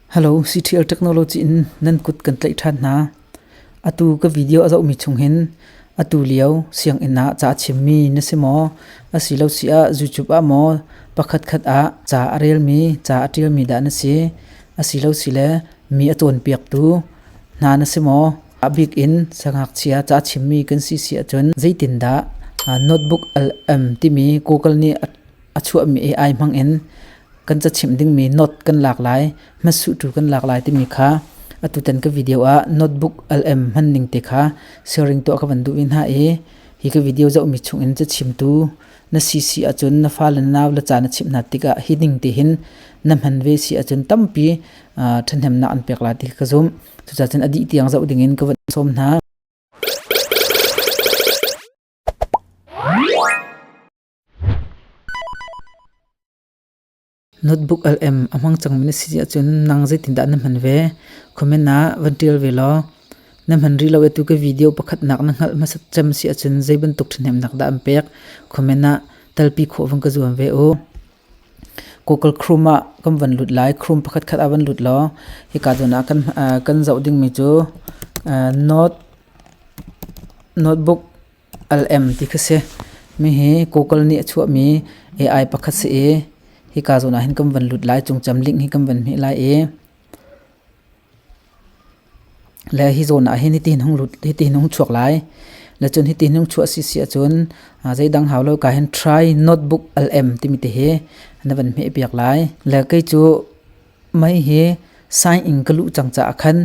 Hello, CTL Technology in nan kut kan tlaih ṭhan hna. Atu ka video a zohmi chung hin atu lio sianginn ah ca chimmi na si maw asilo si ah YouTube ah maw pakhatkhat ah ca a relmi ca a ṭialmi dah na si asilo si le mi a cawnpiaktu hna na si maw mah bik in sangakchia ca chimmi kan si si ahcun zeitindah notebook LM timi Google nih a a chuahmi AI hmangin kan cachimh dingmi note kan lak lai, hmatsuhtu kan lak lai timi kha atutan ka video ah notebook LM hman ning te kha siaring tuah ka van duh i hna i hi ka video zohmi chungin cachimtu na si si ahcun na fa le nau le ca na chimh hna tikah hi ning te hin na hman ve si ahcun tampi ṭhahnemnak an pek lai ti ka zumh. Cucacun a dih tiang zoh dingin ka van sawm hna. Notebook LM a hmang cangmi na si ahcun nang zeitindah na hman ve? Comment ah va ṭial ve law. Na hman rih lo i atu ka video pakhatnak na hngalh hmasat cem si ahcun zei bantuk ṭhahnemnak dah an pek? Comment ah talpi khawh vang ka zuam ve u. Google Chrome ah kan van lut lai. Chrome pakhatkhat ah van lut law. Hika dun ah kan, kan zoh dingmi cu Note, Notebook LM ti khi si. Mi hi Google nih a chuahmi AI pakhat si i hika zawn ah hin kan van lut lai. Cungcam link hi kan van hmih lai i le hi zawn ah hin hiti hnung chuak lai. Le cun hiti hnung chuah si si ahcun zeidang hau lo ka hin try notebook LM timi te hi na van hmeh piak lai. Le kei cu mei hi sign in ka luh cang caah khan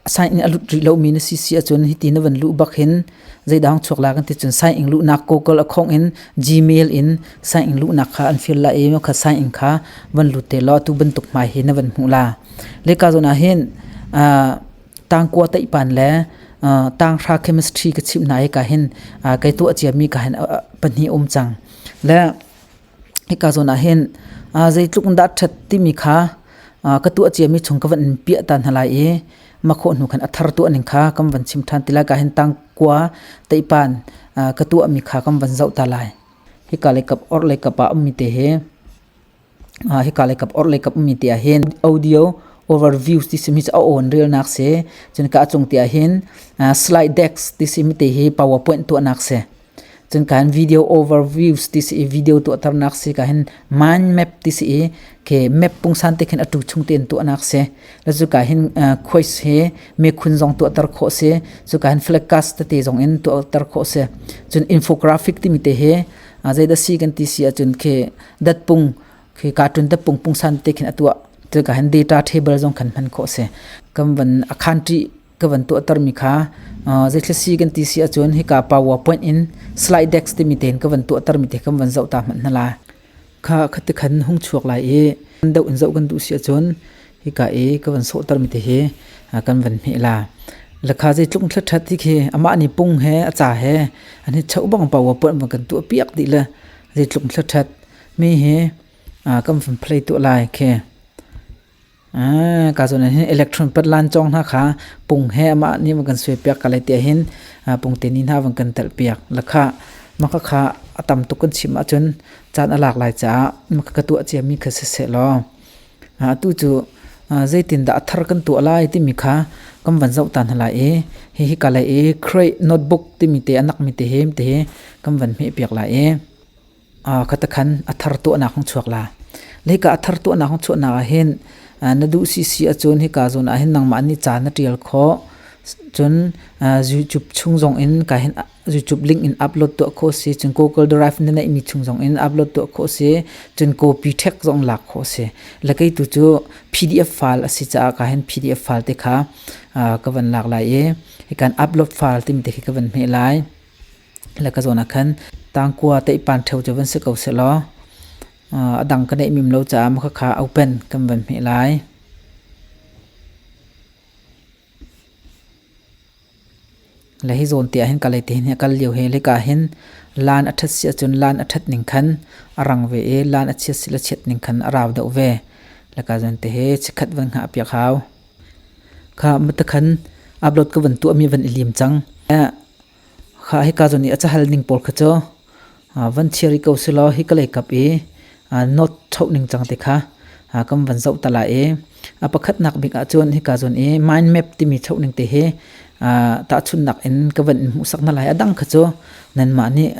saing a lut rih lomi na si si ahcun hiti na van luh bak hin zeidang chuakla kan ti cun saing luhnak google akhawng in gmail in saing luhnak kha an feel la i kha saing kha van lut te law tu bantuk hma hi na van hmu la le ka zona hin tangkua taipan le tang hra chemistry ka chim na ka hin kai to aciami ka hin pahni um chang le Hika zawn ah hin zeitluk in dah a ṭhat timi kha ka tuah ciami chung ka van in piah ta hna lai i makhawh hnu khan a thar tuahning kha kan van chim ṭhan ti lai. Ka hin tangkua teipan ka tuahmi kha kan van zoh ta lai. Hika lei kap orhlei kap ah ummi te hi hika lei kap orhlei kap ummi te ah hin audio overviews ti simi cu a awn relnak si. Cun ka a cung te ah hin slide decks ti simi te hi PowerPoint tuahnak si. Cungkan video overviews ti si i video tuahternak si ka hin mind map ti si i ke map pungsan te khin atu chung tein tuahnak si la chu ka hin khois hi me khun zong tuahter kho si chu ka hin flagcast te zong in tuahter kho si cun infographic ti mi te hi zeida si kan ti si acun ke dat pung ke cartoon dat pung pungsan te khin atua chu ka hin data table zong kan hman kho si kam van a country ka van tuahter mi kha zei thlasi kan ti si ahcun hika pawa point in slide decks timi ten ka van tuahter mi te kan van zoh ta hmanh hna la kha khati khan hung chuak lai i deuh in zoh kan duh si ahcun hika i ka van sawhter mi te hi kan van hmeh la lakha zei tlung thla that ti khi amah ni pung he a cha he an hi chau bang pawa point ban kan tuah piak ti le zei tlung thla that mi hi kan van play tu lai khi ka cun hin electron pat lan cawng hna kha pung he amah nih van kan suai piak ka lai tiah hin pung te ni hna van kan telh piak lakha maka kha a tam tuk kan chim ahcun caan a lak lai caah maka ka tuah cia mi kha si seh law atu cu zeitin dah a thar kan tuah lai timi kha kan van zoh ta hna lai i hihi ka lei i create notebook timi te anak mi te hem te hi kan van hmeh piak lai i ka takhan a thar tuahnak hong chuak la. Leika a thar tuahnak hong chuahnak ah hin na duh sisi ahcun hika zawn ah hin nangmah nih caan na ṭial khawh. Cun YouTube chung zong in ka hin YouTube link in upload tuah khawh si. Cun Google Drive na neihmi chung zong in upload tuah khawh si. Cun copy tag zong lak khawh si. Lakei tu cu PDF file a si caah ka hin PDF file te kha ka van lak lai i hikan upload file timte khi ka van hmeh lai. le ka zawn ah khan tangkua teihpan ṭheo cio van si ko sehlaw a dang ka neih mim lo caah maka kha open kan van hmeh lai. Le hi zawn te ah hin kalei te hin kal lio he lika hin lan a ṭhat si ahcun lan a ṭhat ning khan a rang ve i lan a chiat si le chiat ning khan a rau deuh ve. Laka zawn te he chikhat van hngah piak hau. Kha matakhan upload ka van tuahmi van i lim cang. Kha hika zon i a cahal ning pawl kha cu van chia rih ko selaw hi ka leikap i note choh ningcang te kha kan van zoh ta lai i a pakhatnak bik ah cun hika zon i mind map timi choh ning te hi tahchunnak in ka van in hmuhsak na lai. A dang kha cu nanmah nih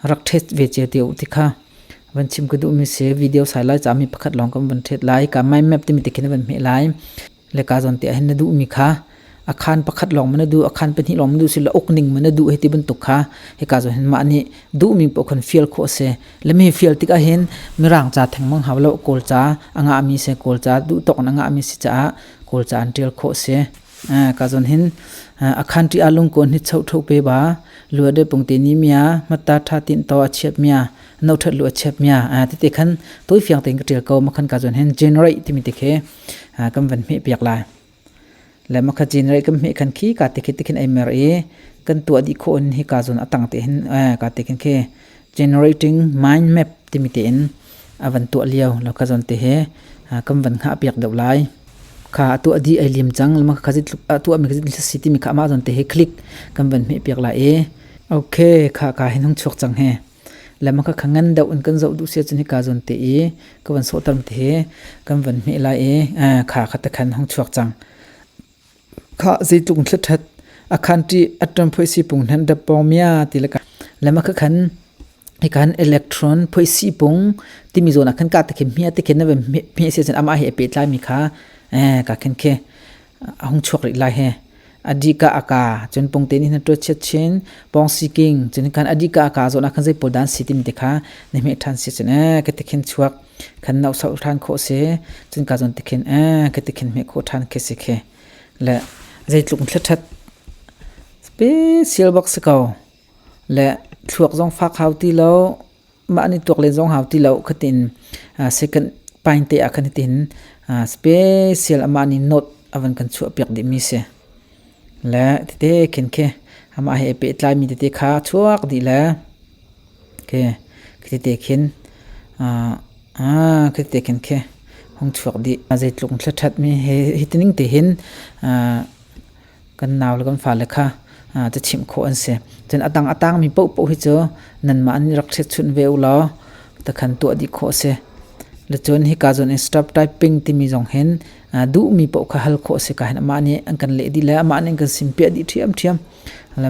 rak ṭhet ve cia te u ti kha van chim ka duhmi a si. Video sai lai cami pakhat lawng kan van ṭhet lai. Hika mind map timi te khi na van hmeh lai. Le ka zon te ah hin na duh mi kha a khan pakhat lawng ma na duh a khan pahnih lawng ma na duh si le uk ning ma na duh hi ti bantuk kha hika zo hin mah nih duh mi poh khan feel khu se le mi feel tik ah hin mirang ca theng mang haw lo kawl ca anga mi se kawl ca duh tok na nga mi si caah kawl ca an tial kho se ka zon hin a khan ti alung kon hi chau tho pe ba lua de pung te ni mia mata tha tin to a chep mia no that lu a chep mia ti te khan toi fiang ten ka tial ko ma khan ka zon hin generate ti mi te khe kan van hmeh piak lai. Le makhatin rei kan hmeh khan khi ka te khi tikhin ei mer i kan tua di khon hi ka zon atang te hin ka te khin khi generating mind map timi te in avan tua liao lo ka zon te he kan van ha piak deuh lai kha atu adi ai lim chang lama kha zit atu mi zit si timi kha ma zon te he click kan van hmeh piak lai e okay kha ka hin hung chuak chang he Lam ka kha ngan deuh in kan zoh duh sia cun hika zawn te i ka van sawh tam te hi kan van hmeh lai i kha kha ta khan hong chuak cang. Kha zeitluk in thlathat a khan ṭi a ṭam phoisi pung hnan dap pawng mia ti le ka lam ka khan hikan electron phoisi pung timi zawn ah khan ka ta khin hmia te khin na van hmeh sia cun amah he a pehtlai mi kha ka khen khe. a hung chuak rih lai hi adika aka cun pungte ni hna ṭuat chiat chin pawng siking cun khan adika aka zawn ah khan zei pawl dan si timi te kha na hmeh ṭhan si cun e ka te khin chuak khan no sau ṭhan khawh si cun ka zon te khin e ka te khin hmeh khawh ṭhan khi si khi le zei tluk thlathat special box ko le thluak zong fak hau ti lo mah an i tuak len zong hau ti lo khatin second pine te ah kan i tin special amah nih note avan kan chuah piak dih mi si le tete khin khi amah he pe tlai mi tete kha chuak dih le khi tete khin ah khite ken khe hong chuak di a zeitluk thla that mi he hitining te hin kan nau le kan fale kha ca chimh khawh an si. Cun a dang a tangmi paohpaoh hi cu nanmah an i rak chiatchunh ve u law takhan tuah dih khawh a si. Lecun hika cun i stop typing timi zong hin duhmi paoh kha hal khawh a si ka hin amah nih an kan leh dih le amah nih an kan sim piak dih ṭhiamṭhiam.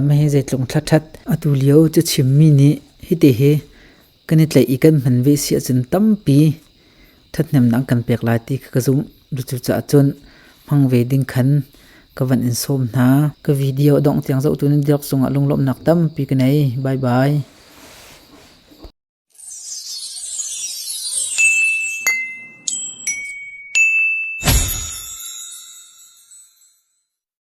Mah hi zeitlung thlathat atu lio cu chimmi nih hiti hi kan i tlaih i kan hman ve si ahcun tampi thathnemnak kan pek lai ti ka zumh cucaah cun hmang ve ding khan ka van in sawm hna ka video dongh tiang zohtu nan dirk cungah lunglawmhnak tampi ka nei bye bye